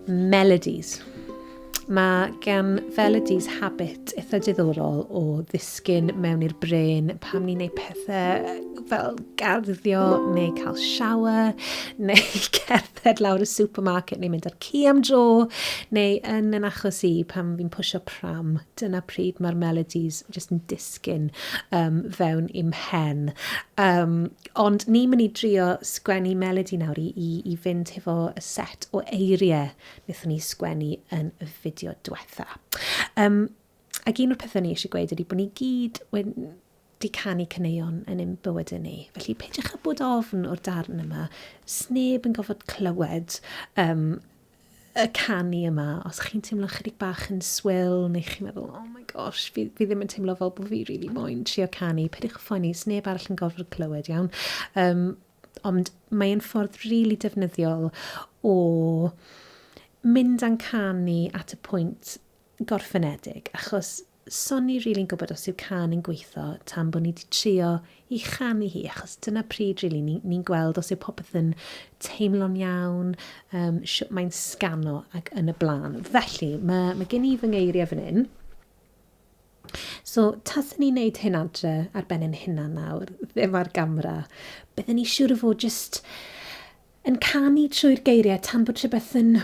Melodies. Mae gan Felodies habit eitha diddorol o ddisgyn mewn i'r brain pam ni'n neud pethau fel garddio neu cael shower neu cerdded lawr y supermarket neu mynd ar ci am dro neu yn yn achos i pam fi'n pwysio pram dyna pryd mae'r melodies jyst yn disgyn sgin um, fewn i'm hen. Um, ond ni'n mynd i drio sgwennu melodi nawr i, i, i fynd hefo y set o eiriau wnaethon ni sgwennu yn y fideo diwetha. Um, ac un o'r pethau ni eisiau gweud ydy bod ni gyd wedi di canu cyneuon yn ein bywydau ni. Felly peidiwch â bod ofn o'r darn yma. Sneb yn gofod clywed um, y canu yma, os chi'n teimlo chydig bach yn swil, neu chi'n meddwl, oh my gosh, fi, fi ddim yn teimlo fel bod fi really moyn trio canu, pediwch y ffoni, neb arall yn gorfod clywed iawn. Um, ond mae'n ffordd rili really defnyddiol o mynd a'n canu at y pwynt gorffenedig, achos 'swn i rili'n gwybod os yw cân yn gweitho tan bod ni wedi trio i chanu hi, achos dyna pryd rili ni, ni'n gweld os yw popeth yn teimlo'n iawn, um, sut mae'n sgano ac yn y blaen. Felly, mae, mae gen i fy ngeiriau fan hyn. So, taswn ni'n neud hyn adre ar ben ein hunan nawr, ddim ar gamera, byddwn ni siŵr o fod jyst Yn canu trwy'r geiriau tan bod rhywbeth yn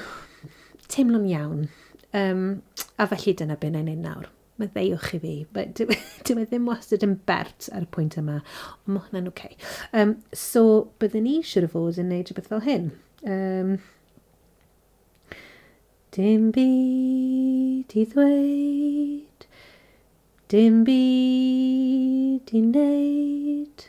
teimlo'n iawn. Um, a felly dyna beth na'n ein nawr. Mae ddeuwch i fi. Dyw e ddim wastad yn bert ar y pwynt yma, ond mae hwnna'n oce. Okay. Um, so, byddwn ni eisiau o fod yn gwneud rhywbeth fel hyn. Um, dim byd i ddweud, dim byd i wneud.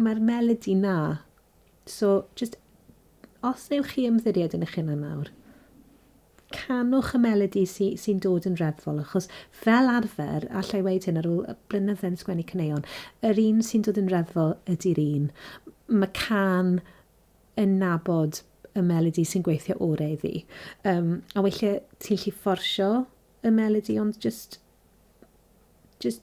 Mae'r melodi 'na. So, jyst, os newch chi ymddiried yn eich hunan nawr, canwch y melodi sy, sy'n dod yn reddfol, achos fel arfer, allai i weid hyn ar ôl blynydde yn sgwennu caneuon, yr un sy'n dod yn reddfol ydy'r un. Mae can yn nabod y melodi sy'n gweithio orau iddi. Um, a weithiau ti'n lli fforsio y melodi, ond just, just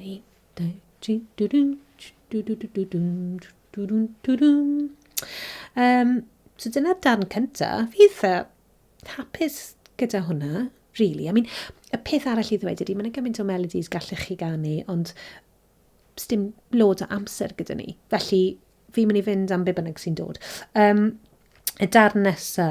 1, 2, 3, dwdwn, dwdwn, dwdwn, dwdwn, dwdwn. Um, so dyna'r darn cynta. Fi eitha hapus gyda hwnna, really. I mean, y peth arall i ddweud ydy, mae'n gymaint o melodies gallech chi ganu, ond stym lod o amser gyda ni. Felly, fi'n mynd i fynd am be bynnag sy'n dod. Um, y darn nesa,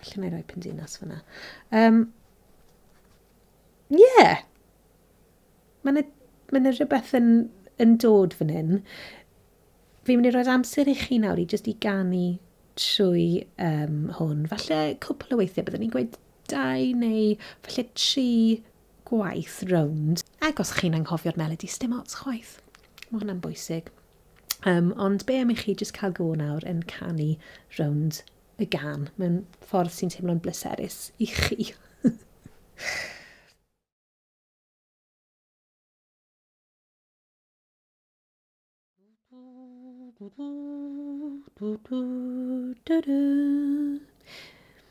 Felly mae rhoi pyn dinas fyna. Um, yeah. Mae yna, mae yna rhywbeth yn, yn dod fan hyn. Fi'n mynd i roi'r amser i chi nawr i jyst i ganu trwy um, hwn. Falle cwpl o weithiau, byddwn ni'n gweud dau neu falle tri gwaith rownd. Ac os chi'n anghofio'r melodi, sdim ots chwaith. Mae hwnna'n bwysig. Um, ond be am i chi jyst cael go nawr yn canu rownd y gan mewn ffordd sy'n teimlo'n bleserus i chi.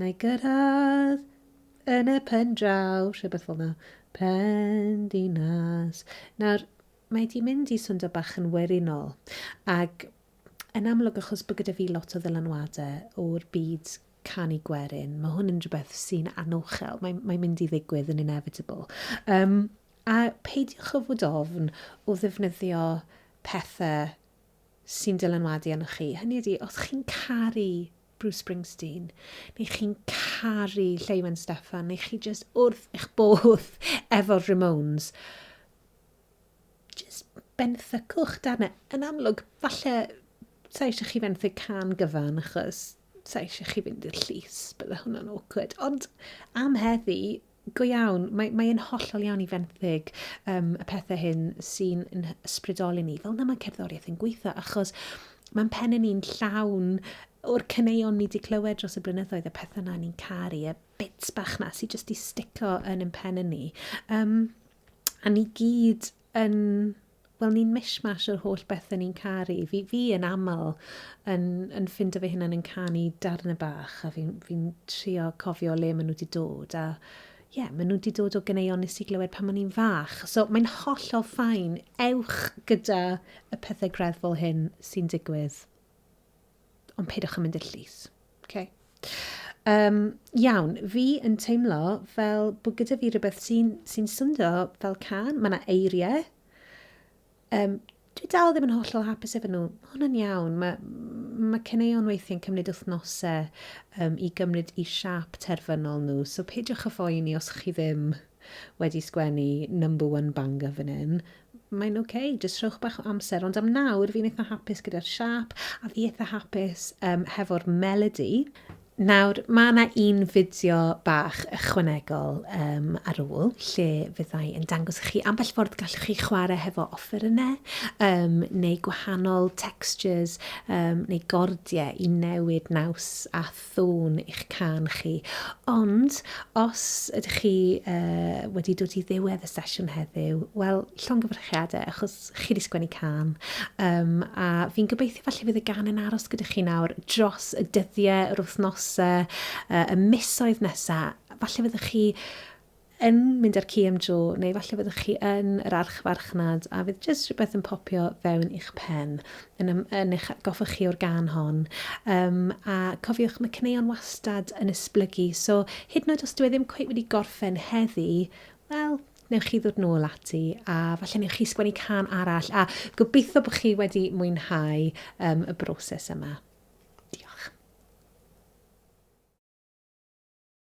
Na i gyrraedd yn y pen draw, rhywbeth fel yna. Pen dinas. Nawr, mae di mynd i swndo bach yn werinol. Ac yn amlwg, achos bod gyda fi lot o ddylanwadau o'r byd canu gwerin, mae hwn yn rhywbeth sy'n anochel. Mae'n mae mynd i ddigwydd yn inevitable. Um, a peidiwch o fod ofn o ddefnyddio pethau sy'n dylanwadu arnoch chi. Hynny ydi, os chi'n caru Bruce Springsteen, neu chi'n caru Lleuwen Steffan, neu chi just wrth eich bodd efo'r Ramones, just benthycwch dan e. Yn amlwg, falle, sa eisiau chi fenthyg can gyfan, achos sa eisiau chi fynd i'r llys, bydde hwnna'n awkward. Ond am heddi, Go iawn, mae, mae e'n hollol iawn i fenthyg um, y pethau hyn sy'n ysbrydoli ni. Fel na mae cerddoriaeth yn gweithio, achos mae'n pen yn ni'n llawn o'r cyneuon ni wedi clywed dros y blynyddoedd, y pethau na ni'n caru, y bits bach na sy'n jyst i stico yn yn pen yn ni. Um, a ni gyd yn wel ni'n mishmash o'r holl bethe ni'n caru. Fi, fi yn aml yn, yn ffindo fy hunan yn canu darnau bach a fi'n fi trio cofio le maen nhw wedi dod a ie, yeah, maen nhw wedi dod o gyneuon nes i glywed pan o'n i'n fach. So mae'n hollol ffain. Ewch gyda y pethau greddfol hyn sy'n digwydd. Ond peidiwch yn mynd i'r llys. Okay. Um, iawn, fi yn teimlo fel bod gyda fi rhywbeth sy'n sy swndo fel can, mae yna eiriau. Um, dwi dal ddim yn hollol hapus efo nhw. Mae hwnna'n iawn. Mae, mae ceneuon weithiau'n cymryd wythnosau um, i gymryd i siap terfynol nhw. So peidiwch y phoeni os chi ddim wedi sgwennu number one banger fan hyn, mae'n ok, jyst rhowch bach o amser, ond am nawr fi'n eitha hapus gyda'r siâp, a fi eitha hapus um, hefo'r melody. Nawr, mae yna un fideo bach ychwanegol um, ar ôl lle fyddai yn dangos i chi ambell ffordd gallwch chi chwarae hefo offerynnau um, neu gwahanol textures um, neu gordiau i newid naws a ddwfn i'ch cân chi. Ond, os ydych chi uh, wedi dod i ddiwedd y sesiwn heddiw, wel, llongyfarchiadau, achos chi wedi sgwennu cân. Um, a fi'n gobeithio falle fydd y gan yn aros gyda chi nawr dros y dyddiau, yr wythnosau, uh, y misoedd nesaf. Falle fyddwch chi yn mynd ar ci am dro, neu falle fyddwch chi yn yr archfarchnad a fydd jyst rhywbeth yn popio fewn i'ch pen, yn, ym, yn eich atgoffa chi o'r gan hon. Um, a cofiwch, mae cyneuon wastad yn esblygu, so hyd yn oed os dwi e ddim cweith wedi gorffen heddi, wel, newch chi ddod nôl ati a falle newch chi sgwennu can arall a gobeithio bod chi wedi mwynhau um, y broses yma. Diolch.